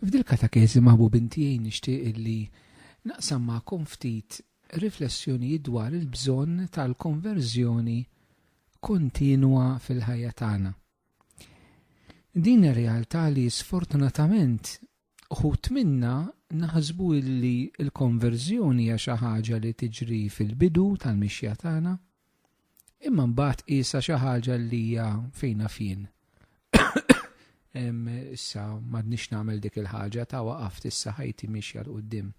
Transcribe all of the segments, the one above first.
F'dil katakezi maħbubin tiegħi nixtieq illi naqsam magħkom ftit riflessjonijiet dwar il-bżonn tal-konverżjoni kontinwa fil-ħajja tagħna. Din ir-realtà li sfortunatament uħut minna naħsbu illi l-konverżjoni hija xi ħaġa li tiġri fil-bidu tal-mixja tagħna, Imma mbagħad qisha xi ħaġa li hija fejn naf jien. Issa m'għadniex nagħmel dik il-ħaġa ta' waqaft issa ħajti mixja l qudiem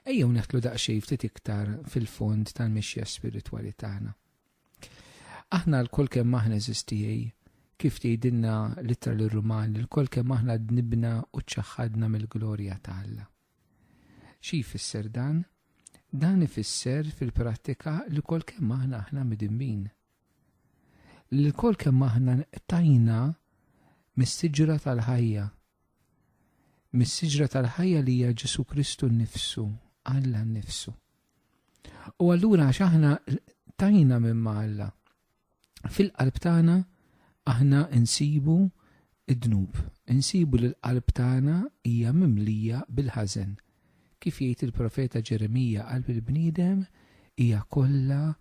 Ejjew neħtlu daqsxejn ftit iktar fil-fond tal-mixja spiritwali tagħna. Aħna l-kol kemm aħna eżistijej, kif tgħidilna l-ittra l-Ruman, l-kol kemm aħna dnibna u ċaħħadna mill-glorja ta' Alla. Xi jfisser dan? Dan ifisser fil-prattika li kol kemm aħna aħna midimmin. Li kol kemm aħna tajna mis-siġra tal-ħajja. Mis-siġra tal-ħajja li hija Ġesu Kristu nnifsu, Alla nnifsu. U allura għax aħna tajna minn Alla. Fil-qalb tagħna aħna nsibu id-dnub, insibu li l-qalb tagħna hija mimlija bil-ħażen. Kif jgħid il-profeta Ġeremija qalb il-bniedem hija kollha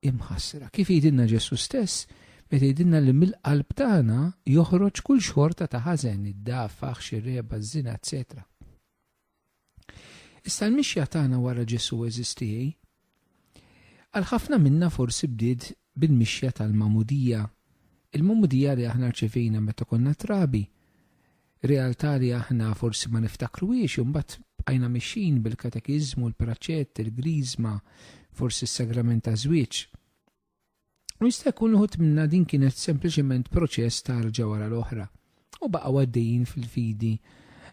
imħassra. Kif jgħidilna Ġesu stess, meta jgħidilna li mill-qalb tagħna joħroġ kull xorta ta' ħażen, id-dafax, ir-reba, ż-żina, eċċetera. Issa l-mixja tagħna wara Ġesù eżistiej. Għal ħafna minna forsi bdiet bil-mixja tal-magħmudija, il-magħmudija li aħna rċevejna meta konna trabi, realtà li aħna forsi ma niftakruhiex u mbagħad bqajna mixin bil-katekiżmu, l-praċett, il-griżma, forsi s-sagrament ta' żwieġ. U jista' jkun uħut minna din kienet sempliċement proċess ta' rġa wara l-oħra u baqgħu għaddejjin fil-fidi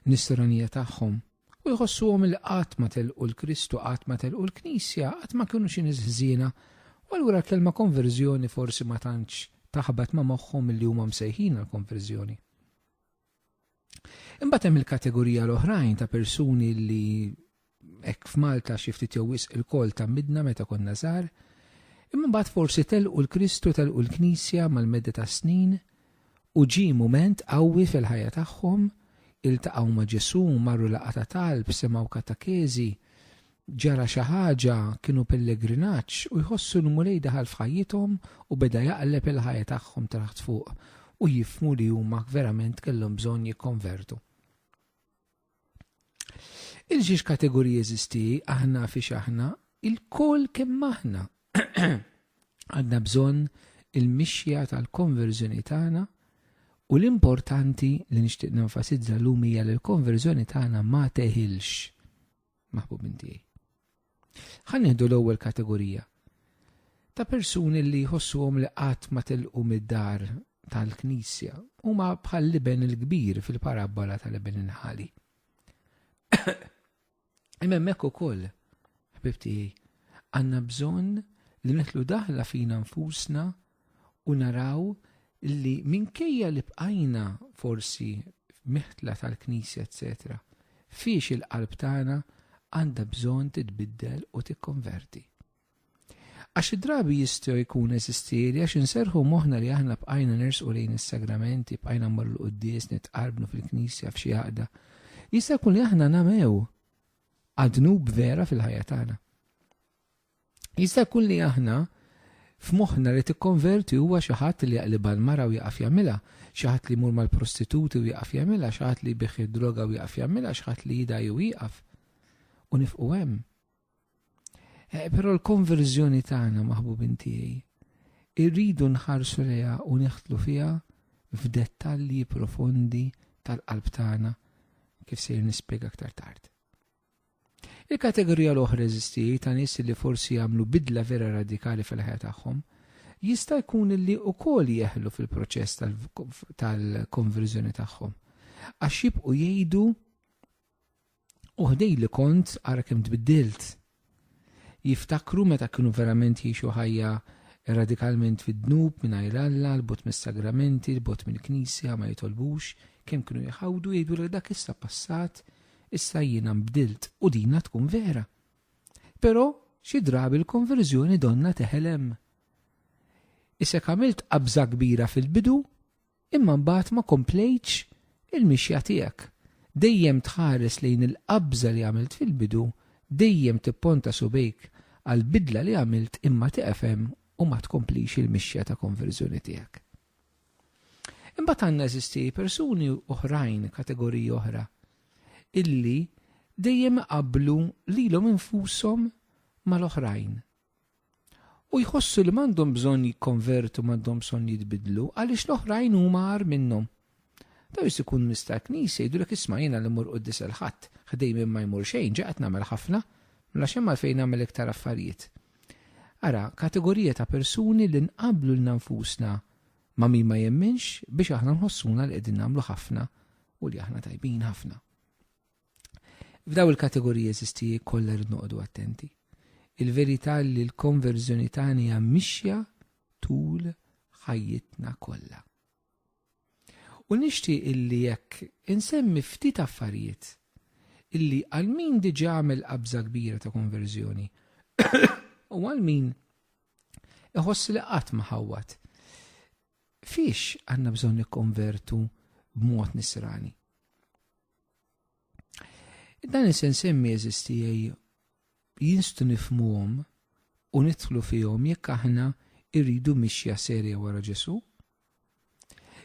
nisranija tagħhom u jħossuhom il qatt ma telqu l-Kristu, qatt ma telqu l-Knisja, qatt ma kienu xi nies ħżiena. U allura l-kelma konverżjoni forsi ma tantx taħbat ma' moħħhom li huma msejħin għal konverżjoni. Imbagħad hemm il-kategorija l-oħrajn ta' persuni li hekk f'Malta xi ftit jew wisq il-kol ta' midna meta konna żgħar, imma mbagħad forsi telqu l-Kristu telqu l-Knisja mal-medda ta' snin u ġie mument qawwi fil-ħajja tagħhom, iltaqgħu ma' Ġesù, marru laqgħa ta' talb, semgħu katakeżi, Ġara xi ħaġa, kienu pellegrinaġġ u jħossu li Mulej daħal f'ħajjithom u beda jaqleb il-ħajja tagħhom taħt fuq u jifhmu li huma verament kellhom bżonn jikkonvertu. Il-xiex kategoriji eżisti aħna fi aħna il-kol kemm aħna. Għadna bżonn il-mixja tal-konverżjoni tagħna u l-importanti li nixtieq nenfasizza l-lum hija li l-konverżjoni tagħna ma teħilx maħbubin tiegħi. Ħan nieħdu l-ewwel kategorija ta' persuni li jħossuhom li qatt ma tilqu mid-dar tal-Knisja huma bħal liben il-kbir fil-parabbola tal-liben inħali. Imma hemmhekk ukoll, ħbib tiegħi, għandna bżonn li nitlu daħla fina nfusna u naraw li minkejja li bqajna forsi meħtla tal-Knisja, etc. Fiex il-qalb tagħna għandha bżonn titbiddel u tikkonverti. Għax id-drabi jistgħu jkun eżistieri għax inserħu moħna li aħna bqajna nersqu lejn is-sagramenti, bqajna mmorru l-quddies, nitqarbnu fil-knisja f'xi għaqda. Jista' jkun li aħna namew għadnub vera fil-ħajja tagħna. Jista' jkun li aħna f'moħħna li tikkonverti huwa xi ħadd li jaqlibha l-mara u jieqaf jagħmilha, xi ħadd li jmur mal-prostituti u jieqaf jagħmilha, xi ħadd li jbigħ id-droga u jieqaf jagħmilha, xi ħadd li jidgħi u jieqaf. U nifqu hemm. Eh, però l-konverżjoni tagħna maħbubin tiegħi irridu nħarsu leha u neħtlu fiha f'dettalji profondi tal-qalb tagħna kif sejr nispjega aktar tard. Il-kategorija l-oħra eżisti ta' nies li forsi jagħmlu bidla vera radikali fil-ħajja tagħhom, jista' jkun li wkoll jeħlu fil-proċess tal-konverżjoni tagħhom, għax jibqgħu jgħidu, 'Oħ dej li kont, ara kemm tbiddilt! Jiftakru meta kienu verament jgħixu ħajja radikalment fid-dnub, mingħajr Alla, 'l bogħod mis-sagramenti, 'l bogħod mill-Knisja, ma jitolbux, kemm kienu jħawdu, jgħidulek dak issa passat, issa jiena nbdilt, u dinha tkun vera. Però xi drabi l-konverżjoni donnha teħel hemm. Isek għamilt qabża kbira fil-bidu, Imma mbagħad ma komplejtx il-mixja tiegħek. Dejjem tħares lejn il-qabża li għamilt fil-bidu, dejjem tipponta subgħejk għall-bidla li għamilt imma tiqfem u ma tkomplix il-mixja ta' konverżjoni tiegħek. Imbagħad għandna eżisti persuni oħrajn, kategoriji oħra, illi dejjem iqabblu lilhom infushom mal-oħrajn. u jħossu li m'għandhom bżonn jikkonvertu m'għandhom bżonn jitbidlu għaliex l-oħrajn huma għar minnhom. Daw jista' jkun nies tal-Knisja jgħidulek isma' jiena li mmur quddis il-Ħadd, ħdejn minn ma jmur xejn, ġa qed nagħmel ħafna, mela x'hemm għalfejn nagħmel iktar affarijiet. Ara, kategorija ta' persuni li nqabblu lilna nfusna ma' min ma jemminx biex aħna nħossuna li qegħdin nagħmlu ħafna u li aħna tajbin ħafna. F'daw il-kategoriji eżistiji kollha rrid noqogħdu attenti. Il-verità li l-konverżjoni tagħna hija mixja tul ħajjitna kollha. U nixtieq illi jekk insemmi ftit affarijiet illi għal min diġa għamel qabża kbira ta' konverżjoni u għal min iħoss li qatt ma ħawwat. Fiex għandna bżonn nikkonvertu b'mod nisrani? Dan is-sens semmi eżisti jinstu nifmuhom u nidħlu fihom jekk aħna irridu mixja serja wara Ġesu.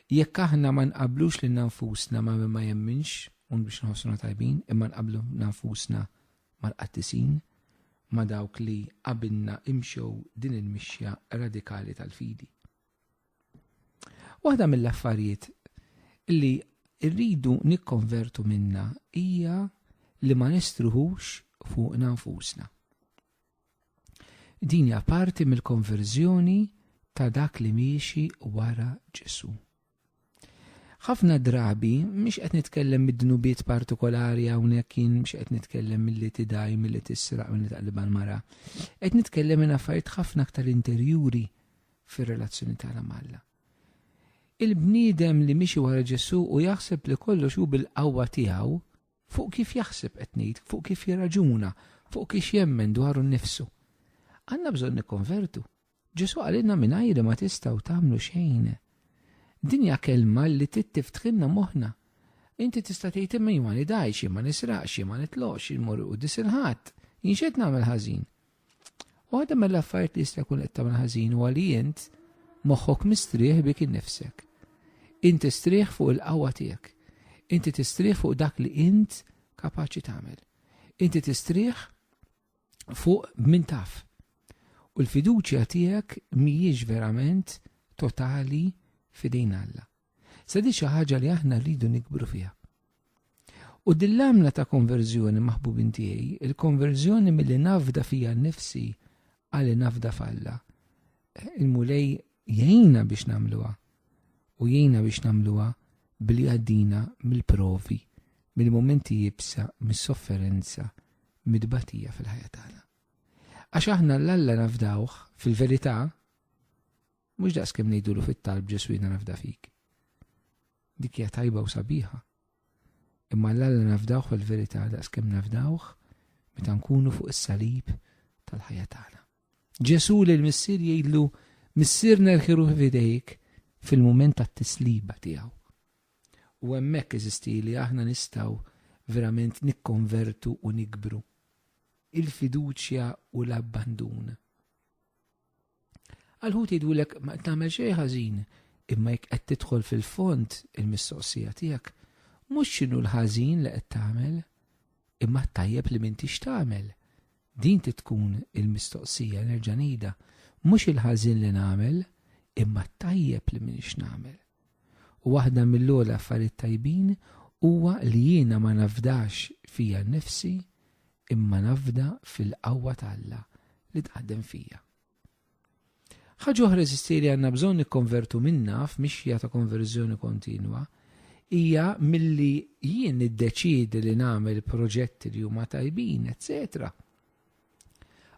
Jekk aħna ma nqablux lil nfusna ma' min ma jemminx un biex nħossuna tajbin, imma nqablu nfusna mal-qattisin ma' dawk li qabilna imxew din il-mixja radikali tal-fidi. Waħda mill-affarijiet li rridu nikkonvertu minna hija li ma nistruħux fuq nfusna. Din hija parti mill-konverżjoni ta' dak li miexi wara Ġesu. Ħafna drabi, mhix qed nitkellem mid-dnubiet partikolari hawnhekk jien mhix qed nitkellem milli tidaj, milli tisraq, milli taqliba l-mara. Qed nitkellem minn affarijiet ħafna aktar interjuri fir-relazzjoni tagħna mal-Alla. Il-bniedem li mixi wara Ġesu u jaħseb li kollox hu bil-qawwa tiegħu fuq kif jaħseb qed ngħid, fuq kif jirraġuna, fuq kif jemmen dwaru nnifsu. Għandna bżonn nikkonvertu, Ġesù qalilna mingħajri ma tistgħu tagħmlu xejn. Din hija kelma li trid tiftħilna moħħna. Inti tista' tgħid imma jien ma nidajx, jien ma nisraqx, jien ma nitloqx, jien mur qudies il-ħadd, jien x'qed nagħmel ħażin. Waħda mill-affarijiet li jista' jkun qed tagħmel ħażin huwa li int moħħok mistrieħ bik innifsek. Inti strieħ fuq il-qawwa tiegħek. Inti tistrieħ fuq dak li int kapaċi tagħmel. Inti tistrieħ fuq min taf. U l-fiduċja tiegħek mhijiex verament totali fidejn Alla. Se di xi ħaġa li aħna rridu nikbru fiha. U din l-għamla ta' konverżjoni maħbubin tiegħi, il-konverżjoni milli nafda fija nnifsi għal nafda falla. Il-mulej jgħina biex nagħmluha u jgħina biex nagħmluha billi għaddina mill-provi, mill-momenti jibsa, mis-sofferenza, mit-tbatija fil-ħajja tagħna. Għax aħna l-Alla nafdawh fil-verità mhux daqs kemm ngħidulu fit-talb Ġesu jiena nafda fik. Dik hija tajba u sabiħa. Imma l-Alla nafdawh fil-verità daqs kemm nafdawh meta nkunu fuq is-salib tal-ħajja tagħna. Ġesù lil Missier jgħidlu, Missier nerħiruh f'idejk fil-mument tat-tisliba tiegħu. U hemmhekk eżisti li aħna nistgħu verament nikkonvertu u nikbru. Il-fiduċja u l-abbandun. Għalħut jgħidulek ma tagħmel xejn ħażin, imma jekk qed tidħol fil-fond il-mistoqsija tiegħek, mhux x'inhu l-ħażin li qed tagħmel, imma tajjeb li m'intix tagħmel. Din trid tkun il-mistoqsija, nerġa' ngħidha, mhux il-ħażin li nagħmel, imma t-tajjeb li m'iniex nagħmel. U waħda mill-ogħla affarijiet tajbin huwa li jiena ma nafdax fija nnifsi imma nafda fil-qawwa ta' Alla li taħdem fija. Ħaġa oħra eżisti li għandna bżonn nikkonvertu minnha f'mixja ta' konverżjoni kontinwa hija milli jien niddeċiedi li nagħmel proġetti li huma tajbin, etc.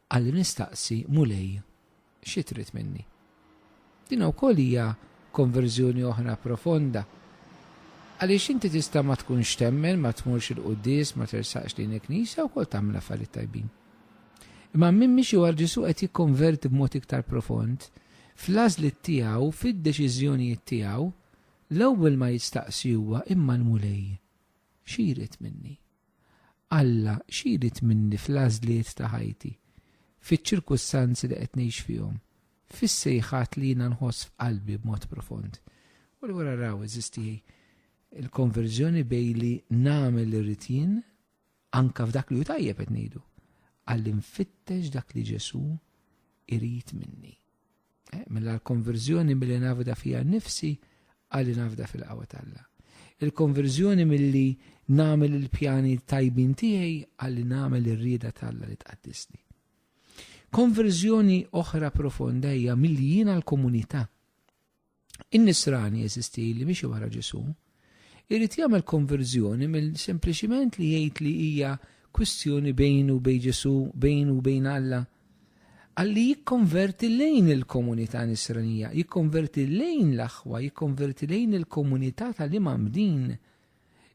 Għalli nistaqsi mulej xi trid minni. Din ukoll hija konverżjoni oħra profonda. Għaliex inti tista' ma tkunx temmen, ma tmurx il-quddies, ma tersaqx lejn il-knisja, wkoll tagħmel affarijiet tajbin. Imma min miexi wara Ġesù qed jikkonverti b'mod iktar profond, fl-għażliet tiegħu, fid-deċiżjonijiet tiegħu, l-ewwel ma jistaqsi huwa, imma l-Mulej xi jrid minni? Alla xi jrid minni fl-għażliet ta' ħajti, fiċ-ċirkustanzi li qed ngħix fihom? fis-sejħat li jiena nħoss f'qalbi b'mod profond. U li wara raw eżisti il-konverżjoni bej li nagħmel li rrid jien anka f'dak li hu tajjeb qed ngħidu għall infittex dak li Ġesu irid minni. Eh, mela l-konverżjoni mill-li nafda fija nifsi għalli nafda fil-qawa talla. Il-konverżjoni mill-li namel il-pjani tajbin tiegħi għalli namel ir-rieda talla li tqaddisni. Konverżjoni oħra profonda hija milli jien għall-komunità. In-nisrani eżisti li miexi wara Ġesu, irid jagħmel konverżjoni mill sempliċiment li jgħid li hija kwistjoni bejn u bejn Ġesu, bejn u bejn Alla. Għalli jikkonverti lejn il-komunità nisranija, jikkonverti lejn l-aħwa, jikkonverti lejn il-komunità tal-imam din.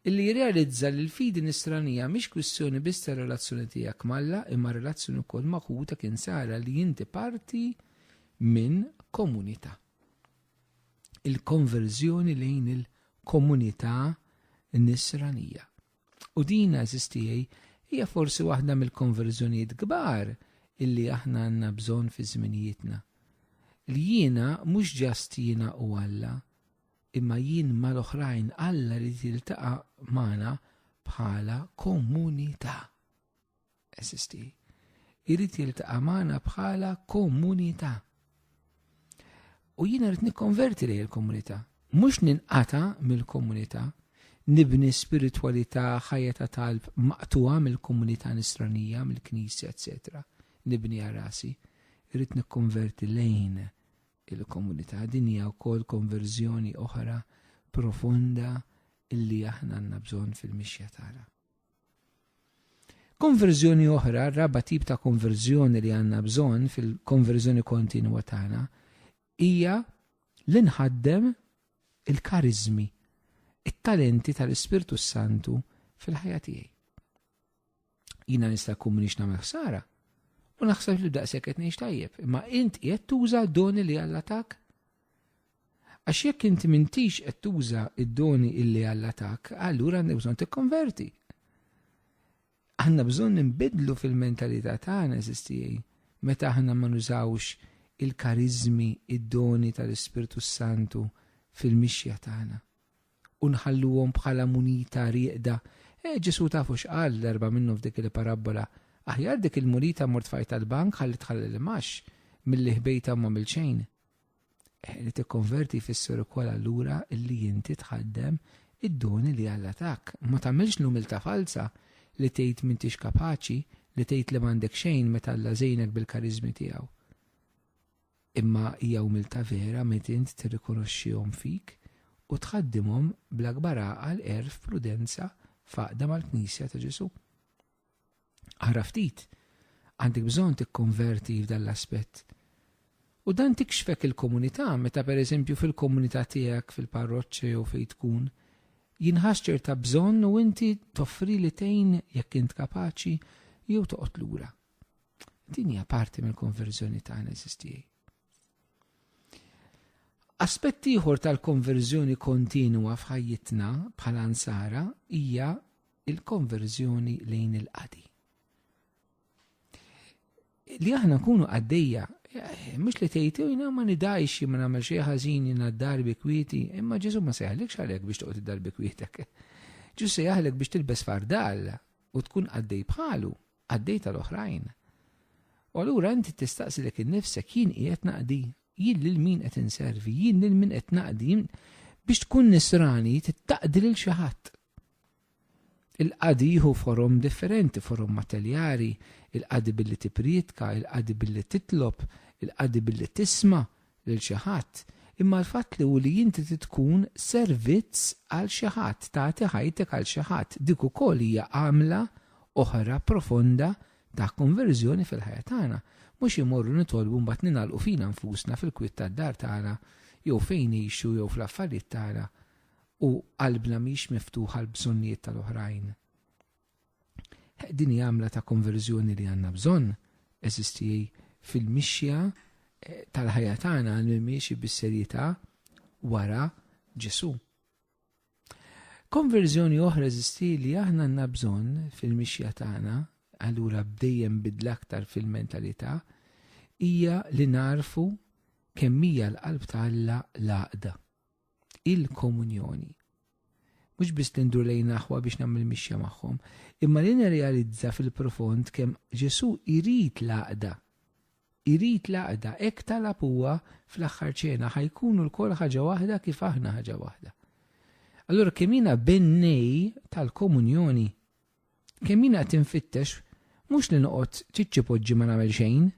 illi jirrealizza li l-fidi nisranija mhix kwistjoni biss tar-relazzjoni tiegħek m'Alla imma relazzjoni wkoll ma' ħutek insara li inti parti minn komunità. Il-konverżjoni lejn il-komunità nisranija. U din eżistijaj hija forsi waħda mill-konverżjonijiet kbar illi aħna għandna bżonn fi żminijietna. Li jiena mhux ġast jiena u Alla, Imma jien mal-oħrajn Alla jrid jiltaqa' magħna bħala komunità. Esisti. Jrid jiltaqa' magħna bħala komunità. U jien rrid nikkonverti lejn il-komunità. Mhux ninqata mill-komunità, nibni spiritwalità ħajja ta' talb maqtuha mill-komunità nisranija, mill-knisja, etc. Nibni għarasi. Rrid nikkonverti lejn il-komunità. Din hija wkoll konverżjoni oħra profonda illi aħna għandna bżonn fil-mixja tagħna. Konverżjoni oħra, raba tip ta' konverżjoni li għandna bżonn fil-konverżjoni kontinwa tagħna hija li nħaddem il-karizmi, it-talenti tal-Ispirtu Santu fil-ħajja tiegħi. Jina nista' kun minix nagħmel ħsara. U naħseb li daqshekk qed ngħix tajjeb, imma int qed tuża doni li Alla tak. Għax jekk inti mintix qed tuża id-doni illi Alla tak, allura għandek bżonn tikkonverti. Għandna bżonn nbidlu fil-mentalità tagħna eżistijej meta aħna ma nużawx il-karizmi, id-doni tal-Ispirtu Santu fil-mixja tagħna. u nħalluhom bħala munita rieqda. Eh, Ġesù tafu x'qal l-erba' minnhom f'dik il-parabbola, Aħjar dik il-munita mort fajta l-bank ħalli tħalli l-imgħax milli ħbejta u m'għamil xejn. Eh, li tikkonverti jfisser ukoll allura li inti tħaddem id-doni li Alla tak. Ma tagħmilx l-umiltà falsa li tgħid m'intix kapaċi, li tgħid li m'għandek xejn meta Alla żejnek bil-kariżmi tiegħu. Imma hija umiltà vera meta int tirrikonoxxihom fik u tħaddimhom bl-akbar għaqal, għerf, prudenza f'għaqda mal-Knisja ta' Ġesù. Ara ftit, għandek bżonn tikkonverti f'dan l-aspett. U dan tikxfek il-komunità meta pereżempju fil-komunità tiegħek fil-parroċċa jew fejn tkun jinħass ċerta bżonn u inti toffri li tgħin jekk int kapaċi jew toqgħod lura. Din hija parti mill-konverżjoni tagħna eżistijaj. Aspett ieħor tal-konverżjoni kontinwa f'ħajjitna bħala nsara hija il-konverżjoni lejn il-qadi. Li aħna nkunu għaddejja, eh, mhux li tgħid jiena ma nidajx ma nagħmel xi ħażin jiena darbi kwieti, imma Ġesu ma seħlek xalek biex toqgħod darbi kwietek. Ġesu seħlek biex tilbes fardal u tkun għaddej bħalu, għaddej tal-oħrajn. U allura inti tistaqsi lek innifsek jien qiegħed naqdi, jien lil min qed inservi, jien lil min qed naqdi, biex tkun nisrani tittaqdi lil xi ħadd. Il-qadi jieħu forom differenti, forom mateljari, il-qadi billi tiprietka, il-qadi billi titlob, il-qadi billi tisma, lil xi ħadd, imma l-fatt li hu li inti trid tkun servizz għal xi ħadd, tagħti ħajtek għal xi ħadd, dik ukoll hija għamla oħra profonda ta' konverżjoni fil-ħajja tagħna. Mhux immorru nitolbu mbagħad ningħalqu fina nfusna fil-kwiet tad-dar tagħna jew fejn ngħixu jew fl-affarijiet tagħna u qalbna mhix miftuħa għall-bżonnijiet tal-oħrajn. Din hija għamla ta' konverżjoni li għandna bżonn, eżisti fil-mixja eh, tal-ħajja tagħna li miexi bis-serjetà wara Ġesu. Konverżjoni oħra eżisti li aħna għandna bżonn fil-mixja tagħna, allura bdejjem bidla aktar fil-mentalità, hija li narfu kemm hija l-qalb ta' Alla l-għaqda. il-komunjoni. Mhux biss li ndur lejn aħwa biex nagħmel mixja magħhom, imma li nirrealizza fil-profond kemm Ġesu jrid l-għaqda. Irid l-għaqda hekk talab huwa fl-aħħar ċena ħajkunu l-kol ħaġa waħda kif aħna ħaġa waħda. Allora kemm jiena bennej tal-komunjoni, kemm jiena tinfittex mhux li noqgħod ċiċċipoġġi ma nagħmel xejn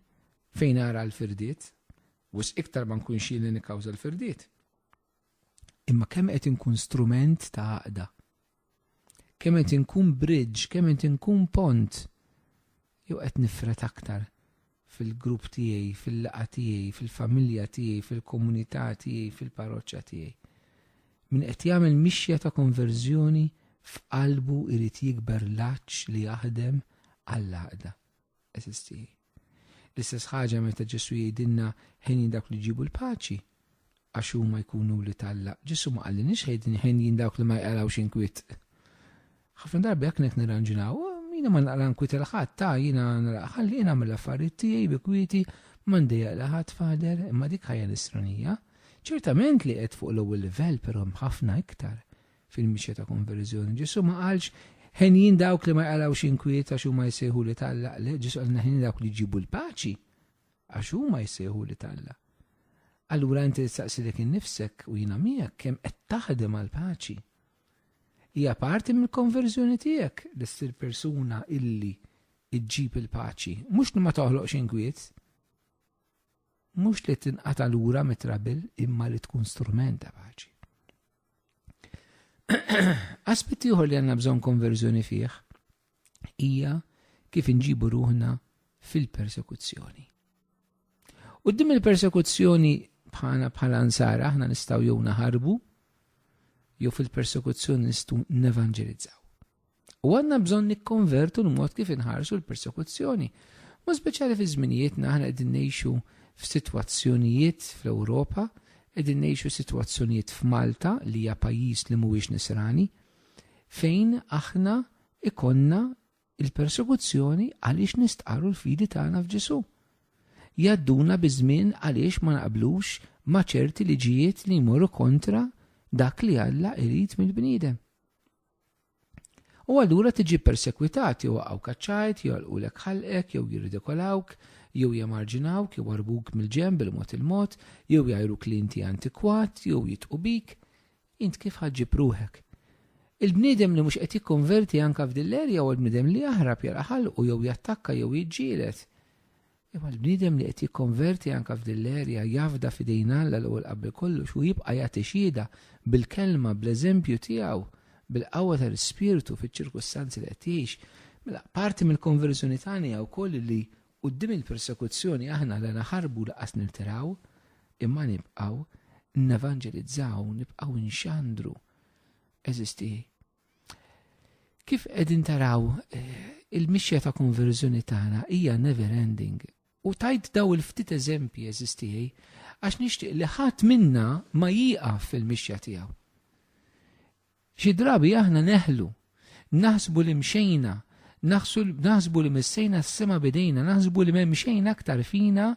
fejn ara l-firdiet, Wisq iktar ma nkunx jien li nikkawża l-firdiet. Imma kemm qed inkun strument ta' għaqda. Kemm qed inkun bridge, kemm qed inkun pont. Jew qed nifret aktar fil-grupp tiegħi, fil-laqa tiegħi, fil-familja tiegħi, fil-komunità tiegħi, fil-parroċċa tiegħi. Min qed jagħmel mixja ta' konverżjoni f'qalbu irid jikber laċ li jaħdem għall-għaqda. Eżisti. L-istess ħaġa meta Ġesu jgħidilna ħin dawk li ġibu l-paċi, għax huma jkunu li talla. Ġesu ma qallinix ħejdin ħin jien dawk li ma jqalawx inkwit. Ħafna darbi jekk nek nirranġinaw, jiena ma naqra nkwit il-ħadd ta' jiena ħalli jiena mill affarijiet tiegħi bi kwieti m'għandi jaqla ħadd fader imma dik ħajja nisranija. Ċertament li qed fuq l-ewwel livell però ħafna iktar Fil-mixja ta' konverżjoni Ġesu ma qalx ħenjin dawk li ma jqalgħux inkwiet għax huma jsejħu li talla, le Ġesu qalna ħenjin dawk li jġibu l-paċi għax huma jsejħu li talla. Allura inti tistaqsi dik innifsek u jiena miegħek kemm qed taħdem għal paċi. Hija parti mill-konverżjoni tiegħek li ssir persuna illi iġġib il-paċi, mhux li ma toħloqx inkwiet, mhux li tinqata lura mit-trabil imma li tkun strument ta' paċi. Aspett ieħor li għandna bżonn konverżjoni fih hija kif inġibu ruħna fil-persekuzzjoni. U dim il-persekuzzjoni bħala bħala nsara aħna nistgħu jew naħarbu jew fil-persekuzzjoni nistgħu nevanġelizzaw. U għandna bżonn nikkonvertu l-mod kif inħarsu l-persekuzzjoni. Mod speċjali fi żminijietna aħna qegħdin ngħixu f'sitwazzjonijiet fl-Ewropa, qegħdin ngħixu sitwazzjonijiet f'Malta li hija pajjiż li mhuwiex nisrani, fejn aħna ikonna il-persekuzzjoni għaliex nistqarru l-fidi tagħna f'Ġesu. Jadduna biż-żmien għaliex ma naqblux ma' ċerti liġijiet li jmorru kontra dak li Alla irid mill-bniedem. U allura tiġi persekwitat jew waqgħu kaċċajt, jolqulek ħalqek, jew jirridikolawk, jew jemarġinawk, jew arbuk mill-ġenb il-mod il-mod, jew jgħajruk li inti antikwat, jew jitqu bik, int kif ħa ġġib ruħek? Il-bniedem li mhux qed jikkonverti anke f'din l-erja huwa l-bniedem li jaħrab jara ħalqu jew jattakka jew jiġġieled. Imma l-bniedem li qed jikkonverti anke f'din l-erja jafda f'idejn Alla l-ewwel qabel kollox u jibqa' jagħti xhieda bil-kelma, bl-eżempju tiegħu, bil-qawwa tal-Ispirtu fiċ-ċirkustanzi li qed jgħix. Mela, parti mill-konverżjoni tagħna hija wkoll li quddiem il-persekuzzjoni aħna la naħarbu laqas nirtiraw, imma nibqgħu nevanġelizzaw, nibqgħu nxandru. Eżisti Kif qegħdin taraw eh, il-mixja ta' konverżjoni tagħna hija never ending. U tajt daw il-ftit eżempji eżistijaj, għax nixtieq li ħadd minna ma jieqaf fil-mixja tiegħu. Xi drabi aħna neħlu, naħsbu li mxejna, naħsbu li missejna s-sema bidejna, naħsbu li m'hemm xejn aktar fina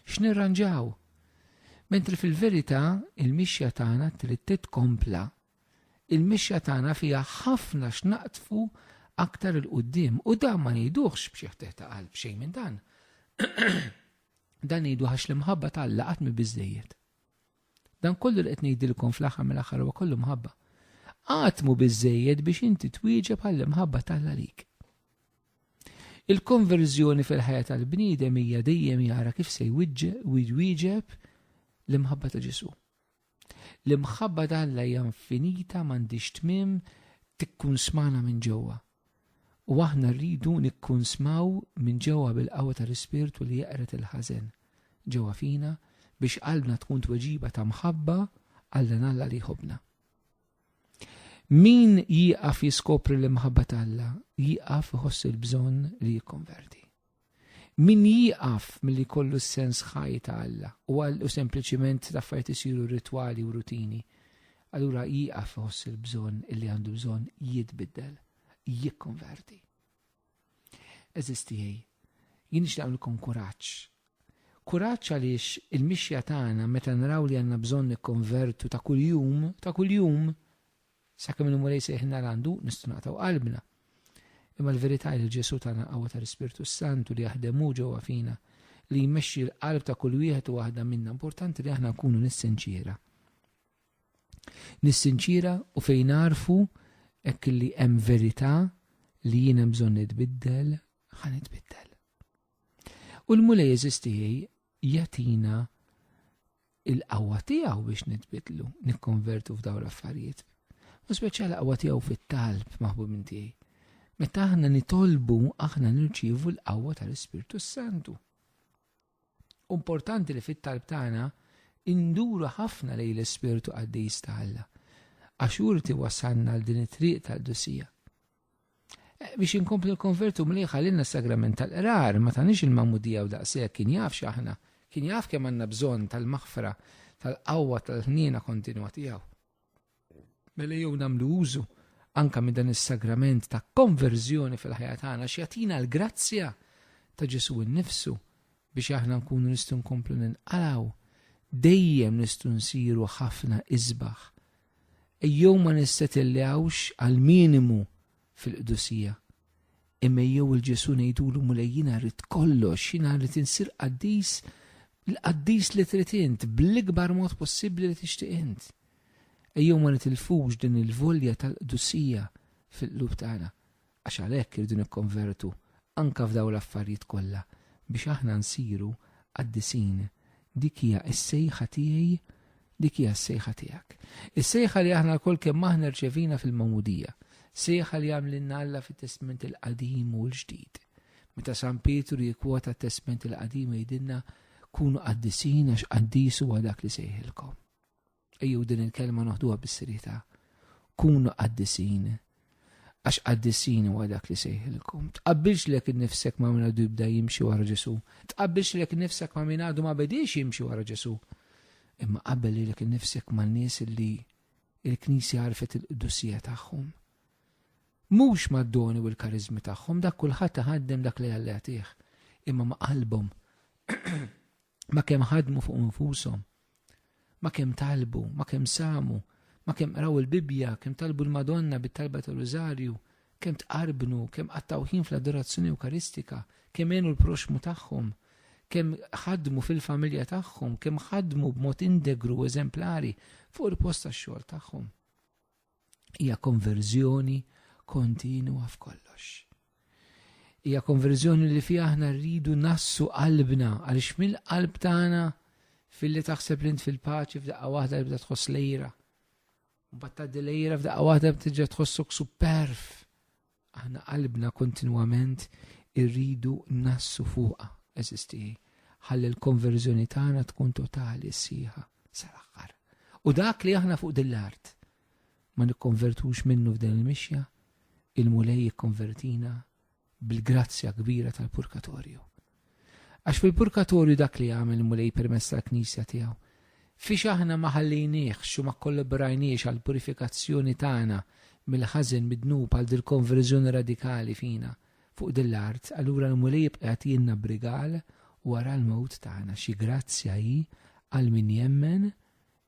x'nirranġaw. Mentri fil-verità il-mixja tagħna trid titkompla il-mixja tagħna fiha ħafna x'naqtfu aktar il-qudiem u dan ma ngħiduhx b'xi ħteh ta' qalb xejn minn dan. dan ngħidu għax l-imħabba ta' Alla qatt mi biżejjed. Dan kollu li qed ngħidilkom fl-aħħar mill-aħħar huwa kollu mħabba. Qatt mu biżejjed biex inti twieġeb għall-imħabba ta' Alla lik. Il-konverżjoni fil-ħajja tal-bniedem hija dejjem jara kif se jwieġeb l-imħabba ta' Ġesu. L-imħabba ta' Alla hija infinita m'għandhiex tmiem tikkunsmana minn ġewwa. U aħna rridu nikkunsmaw minn ġewwa bil-qawwa tal-Ispirtu li jeqred il-ħażen ġewwa fina biex qalbna tkun tweġiba ta' mħabba għal Alla li jħobbna. Min jieqaf jiskopri l-imħabba ta' Alla jieqaf iħoss il-bżonn li jikkonverti. Min jieqaf milli jkollu s-sens ħaj ta' Alla u għal u sempliċiment l-affarijiet isiru ritwali u rutini, allura jieqaf iħoss il-bżonn illi għandu bżonn jitbiddel, jikkonverti. Eżisti tiegħi, jien nixtaqlkom kuraġġ. Kuraġġ għaliex il-mixja tagħna meta naraw li għandna bżonn nikkonvertu ta' kuljum, ta' kuljum, Sakemm il-Mulej jsejħilna għandu, nistgħu naqtgħu qalbna. Imma l-verità hi li Ġesù tana qawwa tal-Ispirtu s-Santu li jaħdem hu ġewwa fina, li jmexxi l-qalb ta' kull wieħed u waħda minna. Importanti li aħna nkunu nissinċiera. Nissinċiera u fejn narfu hekk li hemm verità li jien hemm bżonn nitbiddel, ħa nitbiddel. U l-mulej eżistijaj jatina il-qawwa tiegħu biex nitbidlu, nikkonvertu f'daw l-affarijiet. U speċjal qawwa tiegħu fit-talb maħbub minn tiegħi. Meta aħna nitolbu, aħna nirċievu l-qawwa tal-Ispirtu Santu. Importanti li fit-talb tagħna induru ħafna lej l-Ispirtu qaddis ta' Alla. Għax urti wasanna l din it-triq tal-dusija. biex inkomplu l-konvertu mliħ għalina sagrament tal-qrar, ma tanix il-mamudija u daqsek kien jaf xaħna, kien jaf kemm għanna bżon tal-maħfra, tal-qawwa, tal-ħnina kontinwa tijaw. Mela jew namlu użu anka minn dan is-sagrament ta' konverżjoni fil-ħajja tagħna x'jatina l-grazzja ta' Ġesu nnifsu biex aħna nkunu nistgħu nkomplu ninqalaw dejjem nistgħu nsiru ħafna isbaħ Ejjew ma nissetillewx għall-minimu fil-qdusija, imma ejjew 'il Ġesù ngħidulu, Mulej jiena rrid kollox, jiena rrid insir qaddis, l-qaddis li trid int, bl-ikbar mod possibbli li tixtieq int. Ejjew ma nitilfux din il-volja tal-qdusija fil-qlub tagħna. Għax għalhekk irridu nikkonvertu anke f'dawn l-affarijiet kollha biex aħna nsiru qaddisin. Dik hija s-sejħa tiegħi, dik hija s-sejħa tiegħek. Is-sejħa li aħna lkoll kemm aħna rċevina fil-magħmudija, sejħa li għamlilna Alla fit-Testment il-Qadim u l-Ġdid. Meta San Pietru jikkwota t-Testment il-Qadim jgħidilna kunu qaddisin għax qaddis huwa dak li sejħilkom. Ejju din il-kelma noħduha bis-serjetà. Kunu qaddisin. Għax qaddisin huwa dak li sejħilkom. Tqabbilx lek innifsek ma' min għadu jibda jimxi wara Ġesu. Tqabbilx lek innifsek ma' min għadu ma bediex jimxi wara Ġesu. Imma qabbel li lek innifsek ma' nies li il-Knisja għarfet il-qdusija tagħhom. Mhux mad-doni u l-karizmi tagħhom dak kulħadd iħaddem dak li għallatih, imma ma' qalbhom. ma kemm ħadmu fuq infushom, ma kemm talbu, ma kemm samu, ma kemm qraw il-Bibbja, kemm talbu l-Madonna bit-talba tal-Rużarju, kemm tqarbnu, kemm qattaw ħin fl-adorazzjoni Ewkaristika, kemm għenu l-proxmu tagħhom, kemm ħadmu fil-familja tagħhom, kemm ħadmu b'mod indegru eżemplari fuq il-post tax-xogħol tagħhom. Hija konverżjoni kontinwa f'kollox. Hija konverżjoni li fiha aħna rridu nassu qalbna għaliex mill-qalb tagħna filli taħseb li int fil-paċi f'daqqa waħda li bda tħoss lejra. Mbagħad tgħaddi lejra f'daqqa waħda btiġa tħossok superf. Aħna qalbna kontinwament irridu nassu fuqha, eżisti, ħalli l-konverżjoni tagħna tkun totali sħiħa sal-aħħar. U dak li aħna fuq din l-art ma nikkonvertux minnu f'din il-mixja, il-mulej jikkonvertina bil-grazzja kbira tal-purkatorju. Għax fil-purkatorju dak li għamel il-Mulej permezz tal-Knisja tiegħu, fiex aħna ma ħallejniehx u ma kkollaborajniex għall-purifikazzjoni tagħna mill-ħażen mid-dnub għal dil-konverżjoni radikali fina fuq din l-art, allura l-Mulej jibqa' jagħtielna b'rigal wara l-mewt tagħna. Xi grazzja hi għal min jemmen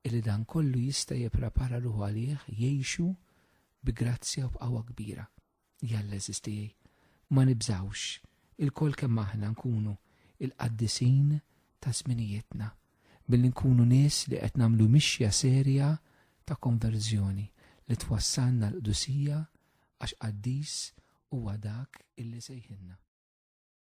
illi dan kollu jista' jipprepara ruħu għalih jgħixu bi grazzja u b'qawwa kbira. Jalla eżistijaj, ma nibżawx, ilkoll kemm aħna nkunu il-qaddisin ta' żminijietna, billi nkunu nies li qed nagħmlu mixja serja ta' konverżjoni li twassalna l-qdusija għax qaddis huwa dak illi sejħilna.